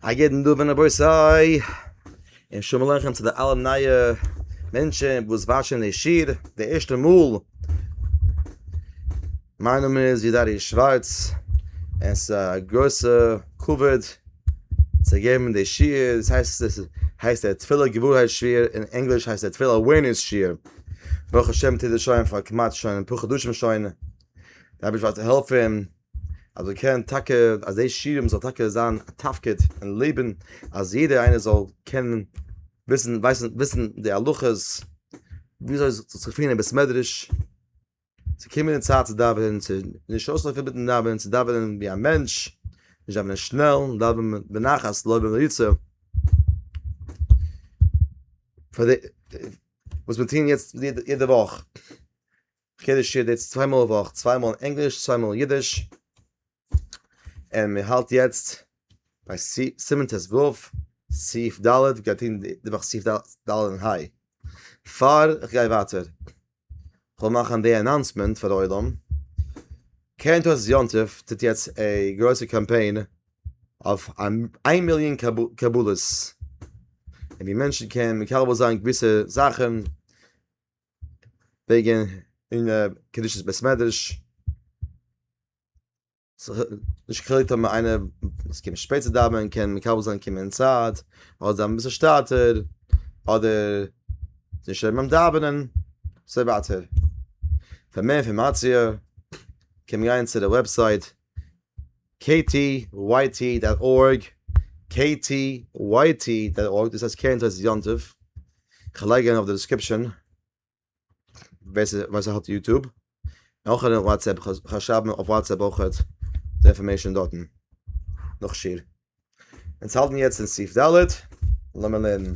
א יעדן דא ווען אבוי סיי אין שומלעכן צו די אלע נייע מענטשן וואס וואשן די שיר די ערשטע מאל מיין נאמען איז ידארי שווארץ אין ס א גרויסע כבוד צו געבן די שיר דאס הייסט עס הייסט דער תפילה געווארהייט שיר אין ענגליש הייסט דער תפילה אווערנעס שיר ברוך השם טוט עס שוין פאר כמעט שוין אפאר חדשים שוין דארף איך ווייטער העלפן אז מען קען טאקע אז די שירעם זאל טאקע זיין א תפקיד אין לעבן אז יעדער איינער זאל קענען וויסן ווייסן וויסן די הלכות וויאזוי זיך צו פירן אין בית מדרש צו קומען אין צייט צו דאווענען צו נישט אויסלויפן מיטן דאווענען צו דאווענען ווי א מענטש נישט דאווענען שנעל דאווענען בנחת לא במריצה פאר די וואס מיר טוען יעצט יעדע וואך. חידוש איז יעצט צוויי מאל א וואך, צוויי מאל אין ענגליש, צוויי מאל אין אידיש, און מען האלט יעצט ביי סימן ט ו, סעיף ד', מען גייט טון די וואך סעיף ד' און ה'. פאר איך גיי ווייטער, כ'וויל מאכן די אנאנסמענט פאר די עולם, קרן תולדות יום טוב טוט יעצט א גרויסע קאמפיין אויף איין מיליאן קבלות, און ווי מענטשן קען מקבל זיין געוויסע זאכן, וועגן אין קדושת בית מדרש נישט כדי טון מיט איינער וואס קומט שפעט צו דאווענען קען מקבל זיין קומען אין צייט אדער זיין אביסל שטאטער אדער נישט שטערן ביים דאווענען און אזוי ווייטער פאר מער אינפארמאציע קען מען גיין צו די וועבסייט KTYT דאט ארג, KTYT דאט ארג, דאס איז קרן תועלת יום טוב, כ'לייג אריין אויף די דעסקריפשאן ווער ס'האט יוטוב, אויך אריין וואטסעפפ, כ'וועל שרייבן אויף וואטסעפפ אויכעט די אינפארמעישאן דארטן נאך שיעור. אונז האלטן יעצט אין סעיף ד', לאמיר לערנען.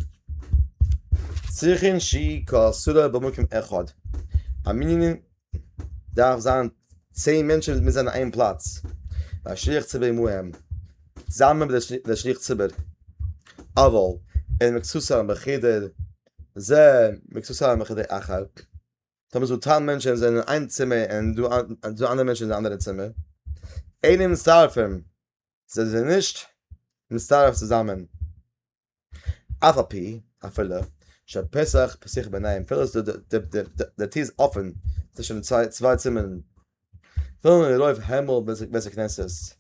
צריכין שי ק סדרה במקום אחד. א מנין דארף זיין צען מענטשן מוזן זיין אין איין פלאץ. א שליח ציבור עמהם. זאמד דער שליח ציבור. אבל אין מקצת א מחדר זה מקצת א מחדר אחר. טאמער ס'דא צען מענטשן זענען אין איין צימער און דא אנדערע מענטשן אין א אנדערע צימער. אינעם שרפים זיי זענען נישט מצטרף צוזאמען אף ע פ אפילו שפסח פסח ביניהם אפילו אז די טיר איז אפען צווישן די צוויי צימערן פון די רוב הימל ביז די בית הכנסת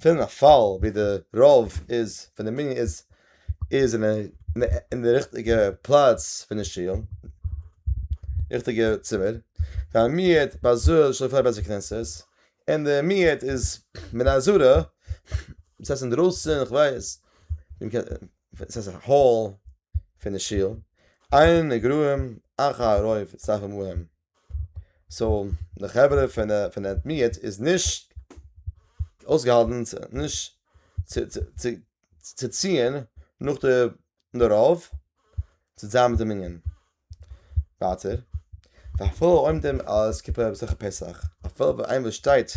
פון א פאל ווי די רוב איז פון די מנין איז איז אין די ריכטיגע פלאץ פון די שול ריכטיגע צימער פארמירט באזוי די שול פאר די בית הכנסת. און די מיעוט איז מן הזרע, דאס הייסט אינדרויסן, איך ווייס, דאס הייסט א האל פון די שול, עיין איגראים אחר הרוב אצטרף עמהם, סאו די חברה פון די מיעוט איז נישט אויסגעהאלטן נישט צו ציען נאך די רוב צו זיין מיט די מנין. ווייטער, ואפילו עומדים על הסקיפה במסכת פסח, אפילו ווען איינער שטייט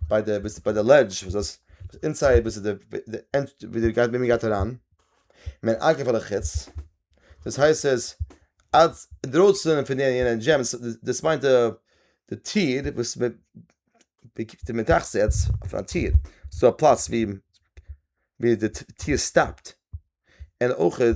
ביי די ביי די לעדזש וואס דאס אינסייד וואס איז די ווי די גייט ווי מען גייט אריין, מען אגב פאר די חוץ, דאס הייסט עס אז אינדרויסן פון יענע יענע דזשים דאס מיינט די די טיר וואס מען די מען טראכט צו עטס אויף א טיר, ס'דא א פלאץ ווי ווי די טיר סטאפט, און אויכעט.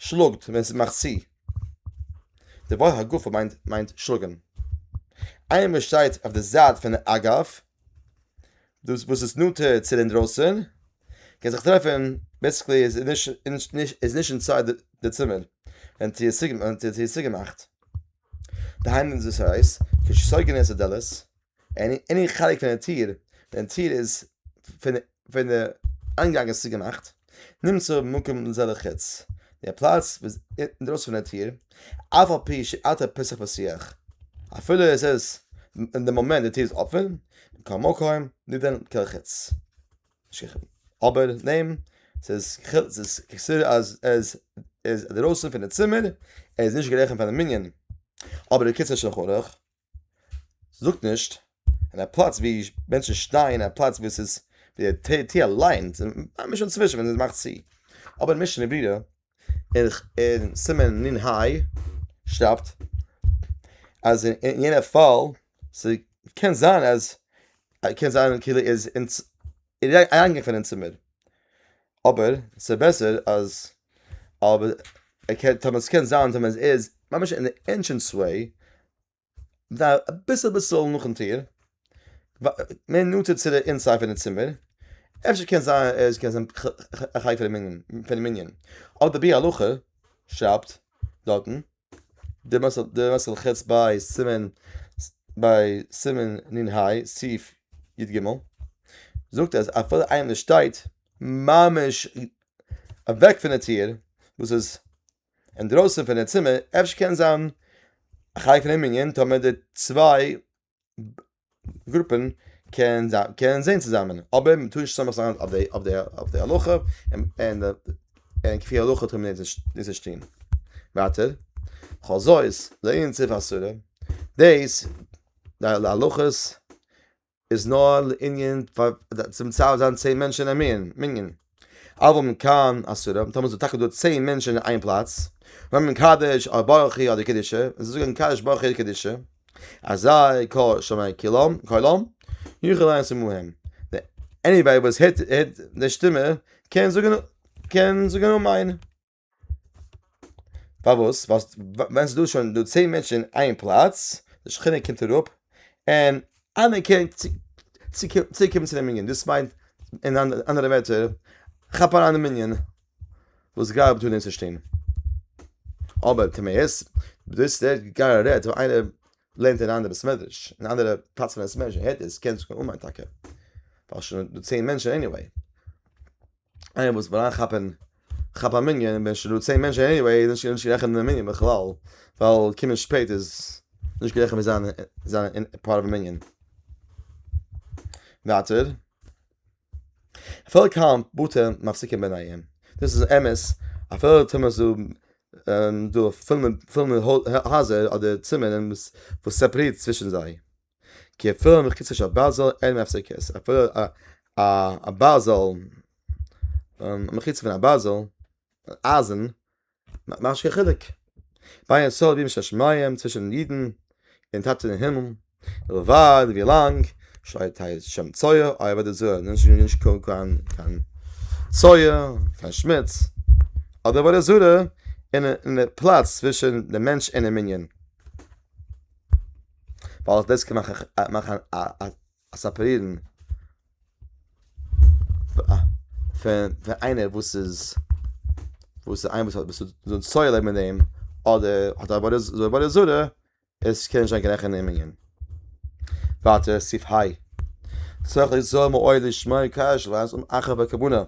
שלאגט ווען ס'מאכט צו. די ווארט הגופה מיינט מיינט שלאגן. איינער וואס שטייט אויף די זייט פון אגב, דאס וואס איז נאנטער צו די אינדרויסן, קען זיך טרעפן בעסיקלי איז נישט נישט נישט איז נישט אינצייד די צימער ווען טיר איז צוגעמאכט. דהיינו דאס הייסט, כשסגר נעשה דלת עני חלק פון די טיר, ווען די טיר איז פון פון די איינגאנג איז צוגעמאכט, נמצא מקום לזה לחוץ, די פלאץ וואס אינדרויסן פון די טיר, אף על פי שאתה פוסח פסיח, אפילו עס איז אין די מאמענט די טיר איז אפען, מקום מקום נידון כעל חוץ, אבער נעם ס'איז ס'איז כסדר אז עס איז אינדרויסן פון די צימער, ער איז נישט גערעכנט פאר די מנין, אבער די קיצור שולחן ערוך. זאגט נישט אין א פלאץ ווי מענטשן שטייען אין א פלאץ וואס איז די ט ת אליין ממש אינצווישן ווען עס מאכט צו אבער משנה ברורה אין סימן נ ה שרייבט אז אין יענע פאל ס'קען זיין אז קען זיין כאילו איז אריינגעקומען אין צימער. אבער ס'איז בעסער אז טאמער ס'קען זיין טאמער עס איז ממש אין די ענטרענס וועי אביסל אביסל נאכן טיר מער נאנטער צו די אינסייד פון די צימער אפשר קען זיין עס קען זיין א חלק פון די מנין אדער בי א הלכה שרייבט דארטן די מס' ח ב סימן ביי סימן נ ה סעיף י ג זאגט אז אפילו איינער שטייט ממש אוועק פון די טיר וואס איז אינדרויסן פון די צימער אפשר קען זיין א חלק פון די מנין טאמער די צוויי גרופען קען קען זיין צוזאמען אבער מען טאר נישט צוזאמען זיין אויף די אויף די אויף די הלכה און און כפי הלכה טאר מען נישט נישט טוהן ווייטער חזות לענין סעיף אסורה דעיס די הלכות איז נאר לענין צום צד זיין צען מענטשען א מנין. אבער מען קאן אסור האבן טאמער ס'איז טאקע דא צען מענטשען אין איין פלאץ ווען מען קדש א ברכו אדער קדישה און זיי זאגען קדש ברכו קדישה אזי ק שמעי קילום קולום יוכל איינס עמהם עניוועי וואס הערט די שטימע קען זאגען קען זאגען אמן. פארוואס ווייל ווען ס'דא שוין דא צען מענטשן אין איין פלאץ די שכינה קומט אראפ און אנערקענט צוקומען צו די מנין דאס מיינט אין אנדערע ווערטער כאפ אריין די מנין וואס גייט דא נישט אבער טמאות דאס רעדט גאר א רעדט ווען איינער לערנט אין א אנדערע בית מדרש אין א אנדערע פלאץ פון בית מדרש און הערט עס קען עס קומען אן מיין טאקע ווייל שוין דא צען מענטשן עניוועי. איינער וואס וויל אריינכאפען כאפ א מנין און ווען שוין דא צען מענטשען עניוועי איז נישט נישט גערעכענט די מנין בכלל ווייל קומען שפעט איז נישט גערעכענט ווי זיין זיין פארט אוו מנין ווייטער פאלג היינט בוטע מפסיקים ביניהם דאס איז אמת אפילו טאר מען זאל דא פילן פילן הייזער אדער צימערן וואס סעפערירט צווישן זיי. כעפֿעלע מחוצף אַ בײַזערל אין הפֿסקות אַ פֿעלער אַ אַ בײַזערל מחוץ פֿון אַ בײַזערל אײַזן מאַכט נישט קיין חילוק בײַ אַ סאָל בימי שמים צווישן ייִדן און טאַטע אין הימל װײַט װי לאַנג שײַ טײַט שם צויי אױ װײַט די זוה איז נישט נישט קײן קײן קײן צויי קײן שמוץ אָט די עבֿודה זרה אין אין די פּלאַץ צווישן דעם מענטש און דעם מנין. ווייל איך דאס קען מאכן א סעפערירן פון איינער וואס איז וואס איינער וואס האט וואס זאל צויי לעבן מיט דעם אדער האט א עבודה זרה עבודה זרה עס קען נישט זיין קיין רעכענען אין מנין ווייטער סעיף היי צריך ליצור מאוהל לשמור קשר ואחר בקבונה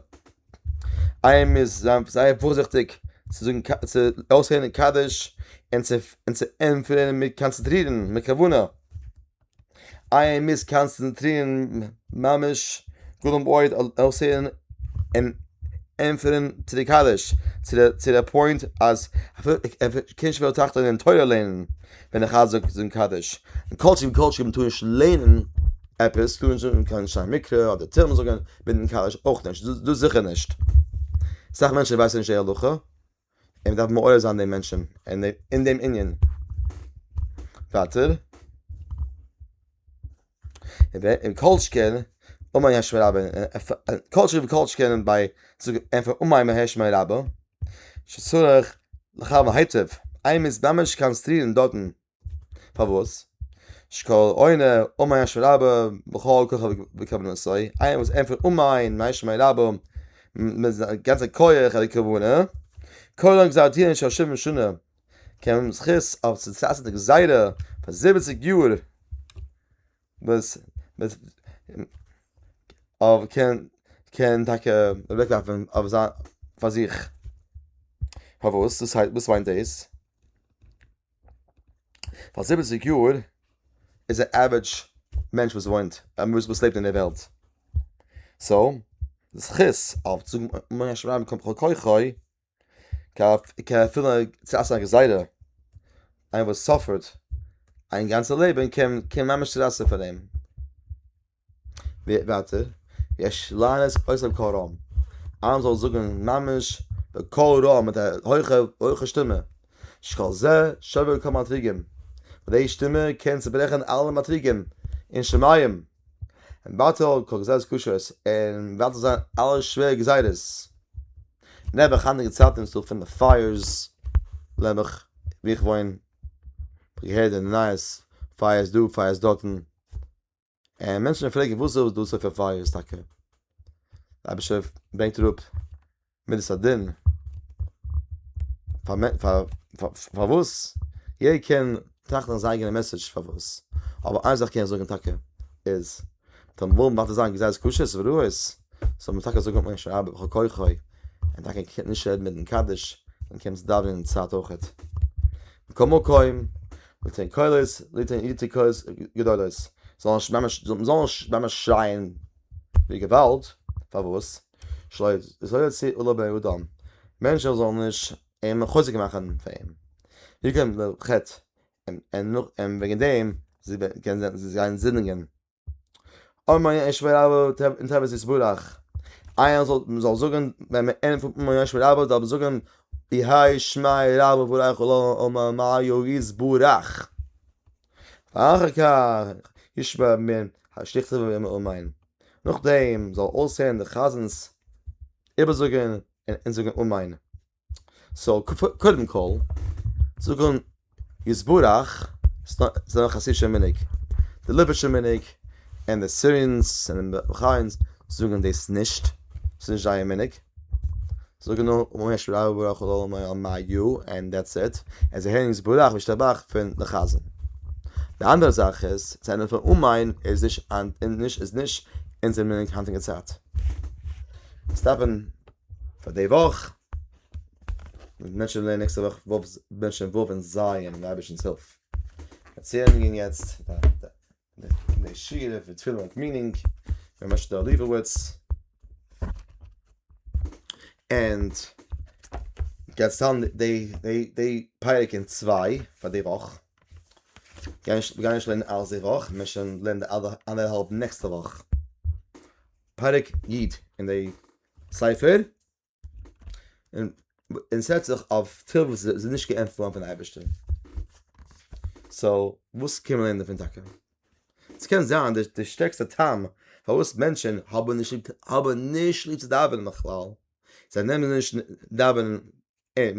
איי מוז זיין זייער פארזיכטיג צו זאגן צו אויסהערן קדיש און צו און צו ענטפערן מיט קאנצעטרירן מיט כוונה, איי מוז קאנצעטרירן ממש גאלם אויד אויסהערן און ענטפערן צו די קדיש צו די צו די פוינט אז קיין שוויל תחתון און תורה לערנען ווען די חז ל זאגט זאגן קדיש, און כל שכן וכל שכן מען טאר נישט לערנען עפעס טאר מען נישט זאגן קיין שיין מקרא אדער תהלים זאגן. בינדן קאליש אויך נישט, דאס זיכער נישט. סאך מענטשן ווייסן נישט די הלכה, און מען דארף מעורר זיין די מענטשן אין דעם ענין. ווייטער, און כל שכן אומאן יש מיר רבה, כל שכן וכל שכן ביי אומאן יש מיר רבה, שצריך לחשבן היטב, איינמאל מען איז ממש קאנצעטרירן דארטן. פארוואס? שקל עונה און מאי אשמי רבה בכל כוכבי כוונתו איינער וואס ענטפערט און מאי און מאי אשמי רבה מיט זיין גאנצע כח און כוונה כל עוד גזר דינא של שבעים שנה קען מען זכות אויף צו טרייסטן די גזירה פאר זיבעציג יאר וואס אויב קען קען טאקע אוועקלאפן אויף זיין פאר זיך פארוואס וואס מיינט דאס? פאר זיבעציג יאר איז א עווערעדזש מענטש וואס וואוינט וואס לעבט אין די וועלט סאו די זכות אויף צו מאכן שרייבן קומט בכל כוחי כאפילו צו עשה גזירה איינער וואס סאפערט זיין גאנצע לעבן קען ממש צו רייסן פאר אים. ווייטער, יש לענות אויסער קול רם, איינער זאל זאגן ממש בקול רם מיט א הויכע שטימע, שקול זה שובר כל מאתרוגים, די שטימע קען צוברעכן אלע מאתרוגים אין שמים, און בטל כל גזירות קשות, און בטל זיין אלע שווערע גזירות, נעבעך היינטיגע צייטן וואס דא פילע פייערס, נעבעך ווי איך וואוין, געהערט אין די נייעס פייערס דא פייערס דארטן. און מענטשן פרעגן וואס איז דאס אויף פייער איז טאקע רבש ע ברענגט אראפ מידת הדין פארוואס יעדער קען טראכטן אז זיין אייגענע מעסעדזש פארוואס אבער איין זאך קען איך זאגן טאקע איז דער מומ דארף זיין געזעץ קושעס וראיות זאל מען טאקע זאגן מיין שרייבער בכל כוחי און טאקע קען נישט רעדן מיטן קדיש און קענסט דאווענען אין צייט אויכעט מקומו קוים ליתן קולות ליתן ליתן קולות גדולות זאל נישט ממש זאל נישט ממש שרייען ווי געוואלד פארוואס שלא שלא יוציא עולא באדם מענטשן זאלן נישט אים חוזק מאכן פאר אים ווי קען די חטא און און נאך און וועגן דעם זיי קען זיי זיי זענען זינדיגן. און מיין ישב רב אין טבת יתברך איינער זאל זאל זאגען ווען מען ענדיגט פון און מיין ישב רב זאל מען זאגען יהא שמי רב וברכו לו אמן מיין יו יתברך אחר כך ישב מען השליכטע און מיין נאכדעם זאל אויסהערן די חזנ'ס איבערזאגען און זאגען אמן. סאו קודם כל זאגן יתברך ס'דא א חסידישע מנהג די ליבערשע מנהג און די סירענס און די באכיינס זאגן דאס נישט ס'איז נישט זייער מנהג זאגן נאר אמן יש ברירה וברירה כל העולמים על מה יהיו און דעטס איט און זיי הערן יתברך וישתבח פון די חזן די אנדערע זאך איז צו ענדערן פון אמן איז נישט אונזער מנהג היינטיגע צייט עס דארף ווען פאר די וואך. מיר בענטשן די נעקסטע וואך ו' בענטשן ו' און ז' מיט די אייבערשטנ'ס הילף. דערציילונגען יעצט די שירה פון תפילה מיט מינינג, ר' משה'לע ליבעווארץ, ענד די פרק אין צוויי פאר די וואך, מיר גייען נישט לערנען אלץ די וואך, מיר וועלן לערנען אנדערהאלב נעקסטע וואך, פרק י' אין די ספר, און און ס'רעדט זיך אויף תפילות וואס איז נישט געענטפערט געווארן פון אייבערשטען, סאו וואס קען מען לערנען דערפון טאקע? ס'קען זיין די די שטערקסטע טעם פארוואס מענטשען האבען נישט ליב האבען נישט ליב צו דאווענען בכלל, זיי נעמען נישט דאווענען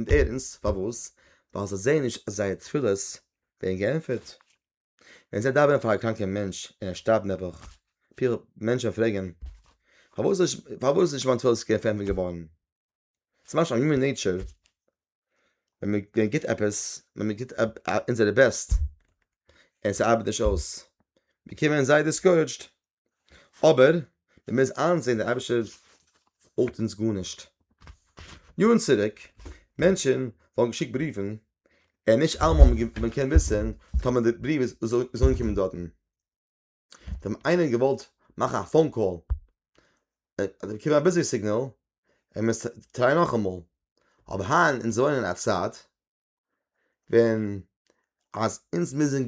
ערנסט, פארוואס? ווייל זיי זעען נישט אז זייער תפילות ווערן געענטפערט. ווען זיי דאווענען פאר א קראנקער מענטש און ער שטארבט נעבעך, פילע מענטשען פרעגען, פארוואס איז פארוואס איז נישט מיין תפילת סקער פארענטפערט געווארען? ס'איז ממש א יומען נעיטשער, ווען מען מען גיבט עפעס, ווען מען גיבט אונזערע בעסט, און ס'ארבעט נישט אויס, באקומען זיי דיסקאורעדזשד. אבער מען מוז איינזעהן דער אייבערשטער האט אונז גארנישט. יארן צוריק מענטשען האבן געשיקט בריווען און נישט אלעמאל האט מען מען קענען וויסען טאמער די בריוו איז איז אנגעקומען דארטן. זיי האבן איינער געוואלט מאכן א פאון קאל און עס איז געקומען א ביזי סיגנעל ער מוז טרייען נאכאמאל. אבער היינט אונז וואוינען אין א צייט ווען אז אונז מוזן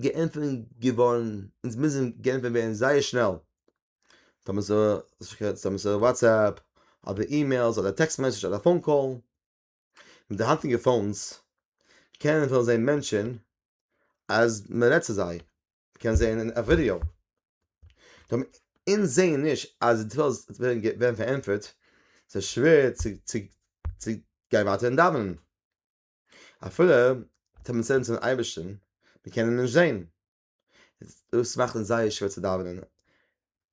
גענפענט געווארן אונז מוזן גענפענט ווערן זייער שנעל טאמער ס'איז א וואטסעפפ אדער אימעילס אדער טעקסט מעסעדזש אדער פאון קאל מיט די היינטיגע פאונס קענען זיי זעהן מענטשען אז מ'רעדט צו זיי קען זעהן אין א ווידיאו דעם אונז זעהן נישט אז די תפילות ווערן פארענטפערט ס'איז שווער צו צו צו גיין ווייטער אין דאווענען אפילו טאמער מיר צילן צום אייבערשטן מיר קענען אים נישט זעהן דאס מאכט אונז זייער שווער צו דאווענען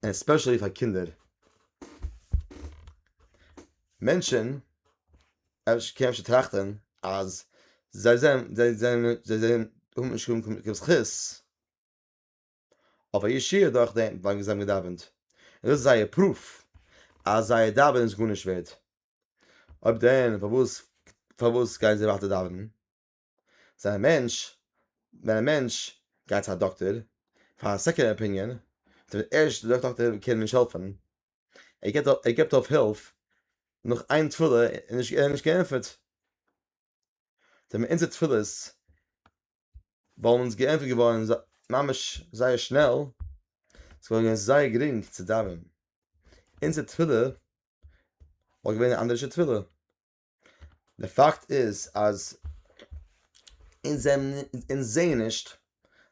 ענד עספעשעלי פאר קינדער. מענטשען אפשר קען אפשר טראכטען אז זיי זענען זיי זענען זיי זענען האבן נישט קיין קיין זכות אויף א ישועה דורך דעם ווייל זיי האבן געדאווענט און דאס איז זייער פרוף אז זייער דאווענען איז גארנישט ווערד אויב דען פארוואס פארוואס גייען זיי ווייטער דאווענען? זיי א מענטש ווען א מענטש גייט צו א דאקטער פאר א סעקענד אפיניען דער ערשטע דאקטער קען נישט העלפען ער געבט ער געבט אויף הילף נאך איין תפלה און נישט און נישט געענטפערט זענען אונזער תפלות וואלן אונז געענטפערט געווארן ממש זייער שנעל עס וואלט געווען זייער גרינג צו דאווענען אונזער תפלה וואלט געווען א אנדערישע תפלה. די פאקט איז אז אונז זעהן נישט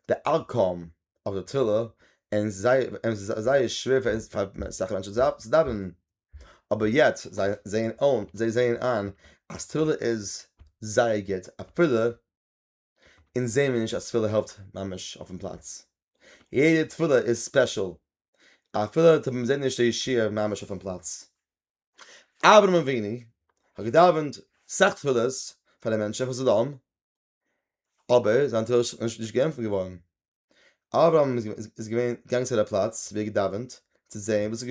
די אוטקאום אויף די תפילה און ס'איז זייער שווער פאר אונז פאר אסאך מענטשן צו דאווענען אבער יעצט זיי זעהן אן זיי זעהן איין אז תפילה איז זייער גוט אפילו אונז זעהן מיר נישט אז תפילה העלפט ממש אויפן פלאץ, יעדע תפילה איז ספעשל, אפילו טאמער מ'זעהט נישט די ישועה ממש אויפן פלאץ. אברהם אבינו האט געדאווענט סאך תפילות פאר די מענטשן חס ושלום, אבער זיין תפילה איז נישט געענטפערט געווארן, אברהם איז געווען געגאנגען צו די פלאץ ווי ער האט געדאווענט צו זעהן וואס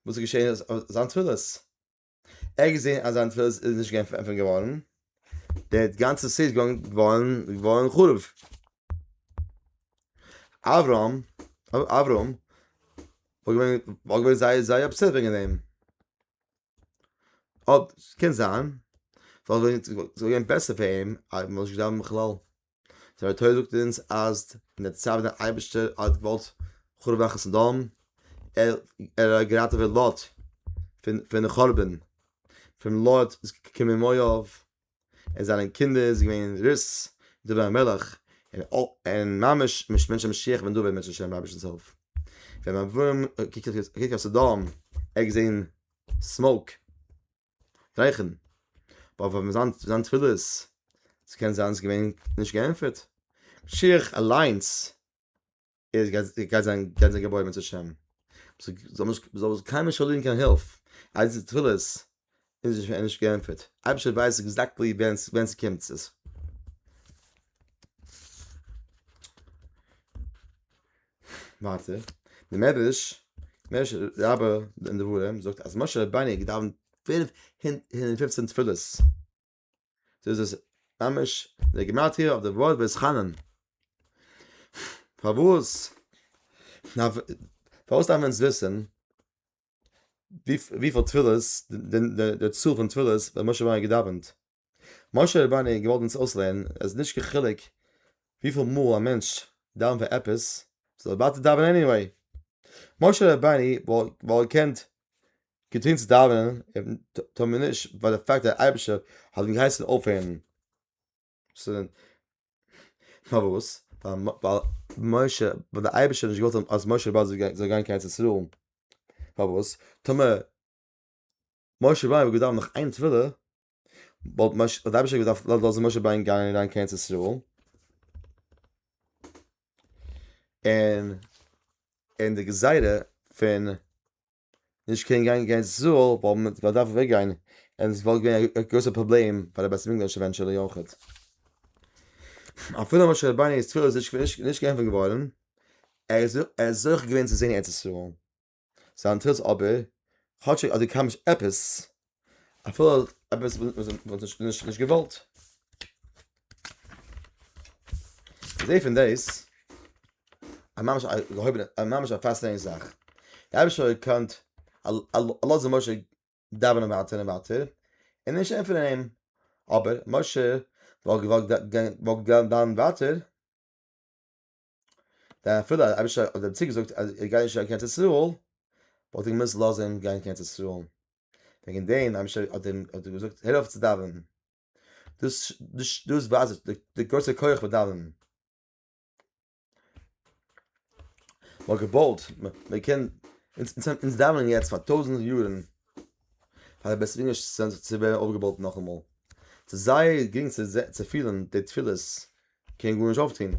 איז געשעהן אויף זיין תפילות. ער האט געזען אז זיין תפילה איז נישט געווען פארענטפערט געווארן, דער גאנצער סיטי איז געווארן חרוב. אברהם, אברהם, וואלט געווען, וואלט געווען זייער זייער אפסעט וועגן דעם. אט קען זיין, וואלט געווען בעסער פאר אים אז מ'זאל נישט דאווענען בכלל. זיין תורה זאגט אונז אז אין די צייט ווען דער אייבערשטער האט געוואלט חרוב מאכן סדום, ער ער האט געראטעוועט לוט פון פון חורבן, פון לוט איז געקומען מואב, עס זענען קינדער איז געווען רות, דוד המלך, און און ממש מש מענטשן משיח בן דוד מענטשן השם רבשע צו הילף. ווען אברהם האט געקוקט אויף סדום ער האט געזען סמאוק. גרייכן אבער פאר זיין זיין תפילות ס'קען זיין ס'איז געווען נישט געענטפערט משיח אליינס איז גייט זיין גייט זיין געבויבן צו השם זאל נישט זאל עס קיינמאל נישט פארלירן קיין הילף אז די תפילות איז שוין נישט געענטפערט אייבישטער ווייסט עקזעקטלי ווען ווען ס'קומט עס. ווייטער די מדרש מערש רבה אין דברים זאגט אז משה רבינו האט געדאווענט פֿינף הונדערט און פֿופֿצן תפילות דאס איז ממש די גימטריא אויף די ווארט ואתחנן פארוואס פארוואס דארף מען אונז וויסן וויפיל תפילות די צאל פון תפילות ווען משה רבינו האט געדאווענט משה רבנו האט געוואלט אונז אויסלערנען אז ס'איז נישט קיין חילוק וויפיל מאל א מענטש דאווענט פאר עפעס, זאל ער ווייטער דאווענען עניוועי. משה רבנו וואלט געקענט געטון צו דאווענען און טאן מער נישט ווייל די פאקט אז דער אייבערשטער האט אים געהייסן אויפהערן, פארוואס? ווייל משה, ווייל דער אייבערשטער האט נישט געוואלט אז משה רבנו זאל גיין קיין ארץ ישראל, פארוואס? טאמער משה ווייב האט געדאווענט נאך איין תפילה, וואלט מש האט אייבישע געדארפט לאזן לאזן משה וויין גיין אין ריין קענס ישראל. און אין די גזירה פון נישט קען גיין גיין זאל וואל מען וואל דארף וועג גיין און עס וואלט געווען א גרויסע פראבלעם פאר די בית מקדש עווענטשעלי אויכעט. אפילו משה רבינו'ס תפילה איז נישט נישט געענפערט געווארן, ער איז ער איז זוכה געווען צו זען ארץ ישראל. זיין תירוץ אבער, כאטשיג אז דו קלעמסט עפעס, אפילו עפעס וואס מען האט נישט נישט געוואלט. זעה פון דאס א ממש א געהויבענע א ממש א פאסטענען זאך. דער אייבערשטער האט געקענט לאזן משה דאווענען ווייטער און ווייטער און נישט ענטפערן אים, אבער משה וואלט געוואלט גיין ווייטער, דער אפילו אז אביש האט דעם צוגעזאגט אז ער גייט נישט גיין קיין ארץ ישראל, וואלט ער געמוזט לאזן אים גיין קיין ארץ ישראל. וועגן דעם אביש האט אים האט ער געזאגט הער אויף צו דאווענען. דאס דאס דאס ווייזט די די גרויסע כח פון דאווענען. מ'האט געבויט, מ'קען, אונז אונז אונז דאווענען יעצט פאר טויזנט יארן פאר די בית מדרש צו ווערן אויפגעבויט נאכאמאל. ס'איז זייער גרינג צו צו פילן די תפילות. קען גארנישט אויפטון,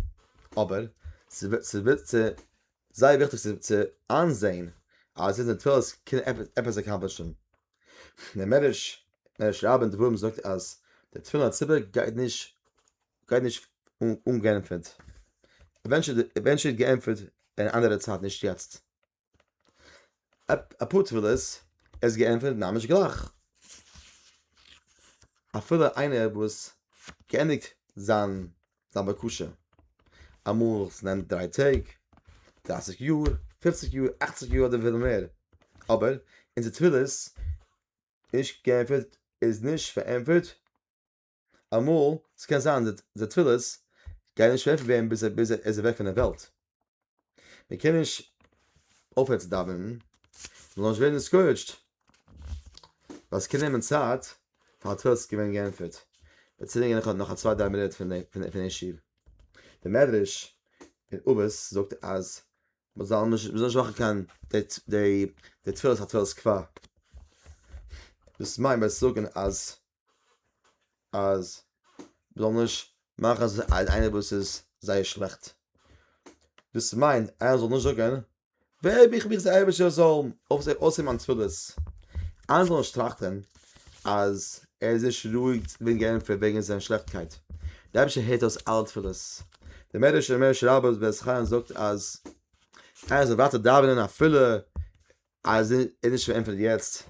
אבער ס'זייער וויכטיג צו איינזעהן אז זיצן אין תפילות קען עפעס עקאמפלישן. דער מדרש מדרש רבה אין דברים זאגט אז די תפילין הציבור גייט נישט גייט נישט אומגענפערט, עווענטשעל גענפערט אין אנדערע צייט נישט יעצט. אפאר תפילות ער איז געענטפערט ממש גלייך אפילו איינער וואס געענדיגט זיין זיין בקשה אמאל עס נעמט דריי טעג דרייסיג יאר פופציג יאר אכציג יאר אדער אפילו מער אבער אונזער תפילות איז נישט געענטפערט איז נישט פארענטפערט. אמאל, ס'קען זיין די תפילות גייען נישט העלפן ווערן ביז ער איז אוועק פון דער וועלט, מען קען נישט אויפהערן צו דאווענען, מען זאל נישט ווערן דיסקאורעדזשד, ווייל ס'קען נעמען צייט פאר א תפילה צו ווערן געענטפערט, וועט צולענגען נאך נאך א צוויי דריי מינוט פון פון דעם שיעור. דער מדרש אין אבות זאגט אז מען זאל נישט מען זאל נישט מאכן קיין די די די תפילות א תפלת כפר, דאס מיינט ביי זאגן אז אז מ'זאל נישט מאכן אז איינער וואס איז זייער שלעכט, דאס מיינט איינער זאל נישט זאגן וועב איך מיך צו אייבערשטער זאל אויסהערן מיין תפילות, איינער זאל נישט טראכטען אז ער איז נישט ראוי'ג צו ווערן געענטפערט וועגן זיין שלעכטקייט, דער אייבערשטער הערט אויס אלע תפילות, דער מדרש אין מרש רבה וועס חנן זאגט אז איינער זאל ווייטער דאווענען אפילו אז ער נישט געענטפערט יעצט,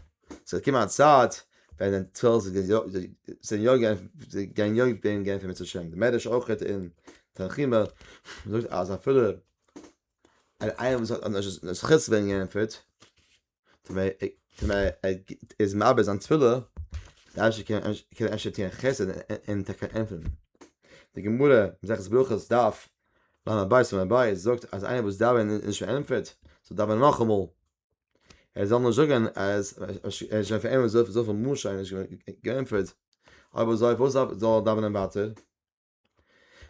ס'וועט קומען א צייט ווען די תפילות זיי זיי יא גייען זיי גייען יא ווערן געענטפערט בעזרת השם, די מדרש אויך אין תנחומא זאגט אז אפילו אן איינער וואס האט נישט די זכות צו ווערן געענטפערט טו מ טו מ ער איז מאבד זיין תפילה די אייבערשטער קען קען אפשר טוען חסד און טאקע ענטפערן, די גמרא מסכת ברכות דף למה הבית למה הבית זאגט אז איינער וואס דאווען איז נישט פארענטפערט זאל דאווען נאכאמאל ער זאל נישט זאגן אז ער איז שוין פארענטפערט זאל זאל פון משה איז געענטפערט אבער זאל וואס זאל דאווען ווייטער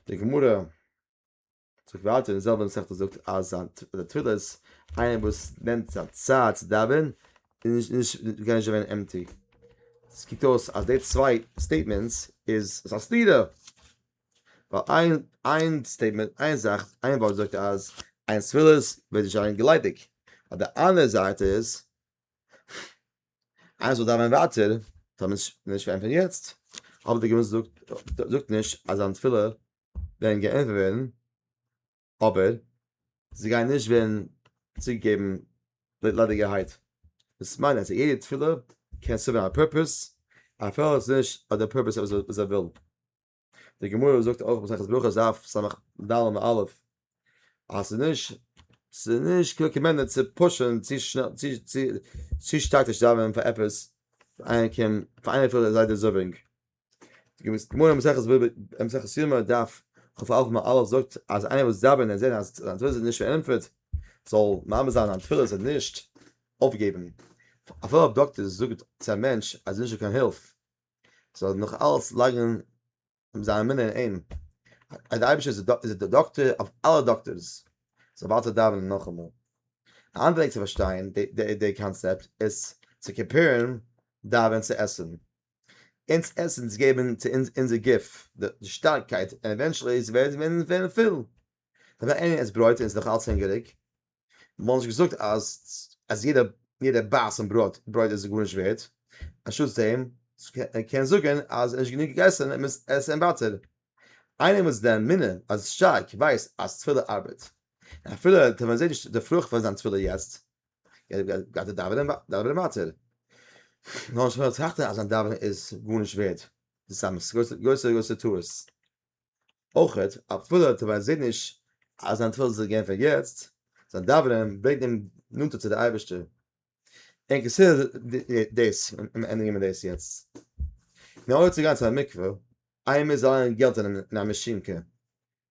די גמורה זאגט ווייטער אין זעלבן מסכת זאגט אז די תפילה איז איינער וואס נעמט זיין צייט צו דאווען איז נישט גייען נישט ווען אמתי סקיטוס אז די צוויי סטעיטמענטס איז סאסטירע ווייל איין איין סטעיטמענט איין זאך איין ווארט זאגט אז איין ספירות וועט נישט זיין געליידיג אויף די אנדערע זייט איז איינס זאל דאווענען ווייטער זאל מען נישט נישט ווערן פון יעצט אבער די גמרא זאגט זאגט נישט אז זיין תפילה ווערן געענטפערט ווערן אבער זיי גייען נישט ווערן צוריק געבן ליידיגערהייט, דאס מיין אז יעדע תפילה קען סערווען א פורפעס אפילו עס איז נישט אט די פורפעס וואס זיי ווילן, די גמרא זאגט אויך מסכת ברכות דף ס ד עמ' א' אז ס'איז נישט ס'איז נישט רעקאמענדעד צו פושען צו שנעל צו צו צו שטארק נישט דאווענען פאר עפעס פאר איינער קען פאר איינער פילט זייער דעזערווינג. געוויס גמור מסכת וועב אין מסכת סיום דף חוף אלף מאל אלף זאגט אז איינער וואס דאווען ער זעט אז זיין תפילה איז נישט פארענטפערט זאל מאמין זיין אז זיין תפילה איז נישט אויפגעבן אפילו א דאקטער זאגט צו א מענטש אז נישטא קיין הילף זאל נאך אלץ לייגן זיין אמונה אין אים אז די אייבישטער איז דער דאקטער אויף אלע דאקטערס זאל ווייטער דאווענען נאכאמאל א אנדערע וועג צו פארשטיין די קאנצעפט איז צו קאמפעירן דאווען צו עסן אונז עסנס געבן צו אונז אונזער גוף די שטארקייט און עווענטשעלי ווערן מיר ווערן פיל. ווען איינער עסט ברויט און איז נאכאלץ הונגעריג, וואלט מען נישט געזאגט אז אז יעדע יעדע בייס אין ברויט ברויט איז גארנישט ווערד, אנשטאטס דעם קען זאגן אז ער האט נישט גענוג געגעסן ער מוז עסן ווייטער. איינער וואס איז דער אמונה אז שטארק ווייסט אז תפילה ארבעט, אפילו טא ווען ער זעט נישט די פרוכט פון זיין תפילה יעצט, גייט ער דאווענען דאווענען ווייטער. נאר שוין טראכט ער אז זיין דאווענען איז גארנישט ווערד. דאס איז א גרויסע גרויסע טעות. אויך אפילו ער ווייסט זעהט נישט אז זיין תפילות זענען געענטפערט יעצט, זיין דאווענען ברענגט אים נאנטער צו די אייבערשטער. און כסדר דאס ענדיגן מיר דאס יעצט. נאר אויב צו גיין צו א מקווה, איינמאל מיר זאלן ליינען געלט אין א מאשינקע,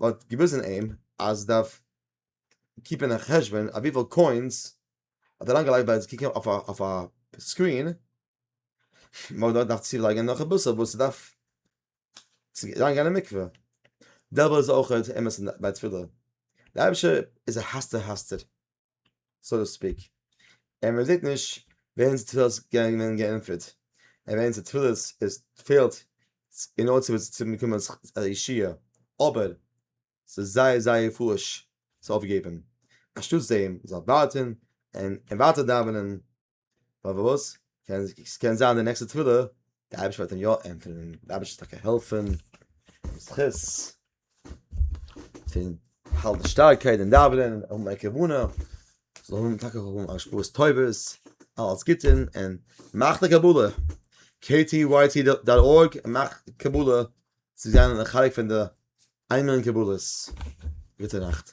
מ'האט געוויזן אים אז מ'דארף קיפען א חשבון אויף וויפיל קוינס מ'האט אריינגעלייגט ביי קוקן אויף א סקרין, מ'האט דארט געדארפט צולייגן נאך אביסל וואס ס'דארף צו אריינגיין אין מקווה, דעלבע איז אויך אמת ביי תפילה, די אייבערשטער איז א האסטער האסטער. סאו טו ספיק, און מען זעט נישט וועמענס תפילות זענען געווען געענטפערט, און וועמענס תפילות עס פעלט אין אור צו באקומען א ישועה, אבער ס'איז זייער זייער פארש צו אויפגעבן, אנשטאטס דעם זאל ווארטן און ווייטער דאווענען. פארוואס? קען עס קען זיין די נעקסטע תפילה די אייביש וועט אים יא ענטפערן די אייביש טאקע העלפן זכות פון האלט די שטארקייט אין דאווענען און מיין כוונה זאל האבן טאקע האבן א שפורס טובות אלס גוטן און מאך די קבלה ktyt.org מאך קבלה צו זיין א חלק פון די איינמאל אין קבלות גוטע נאכט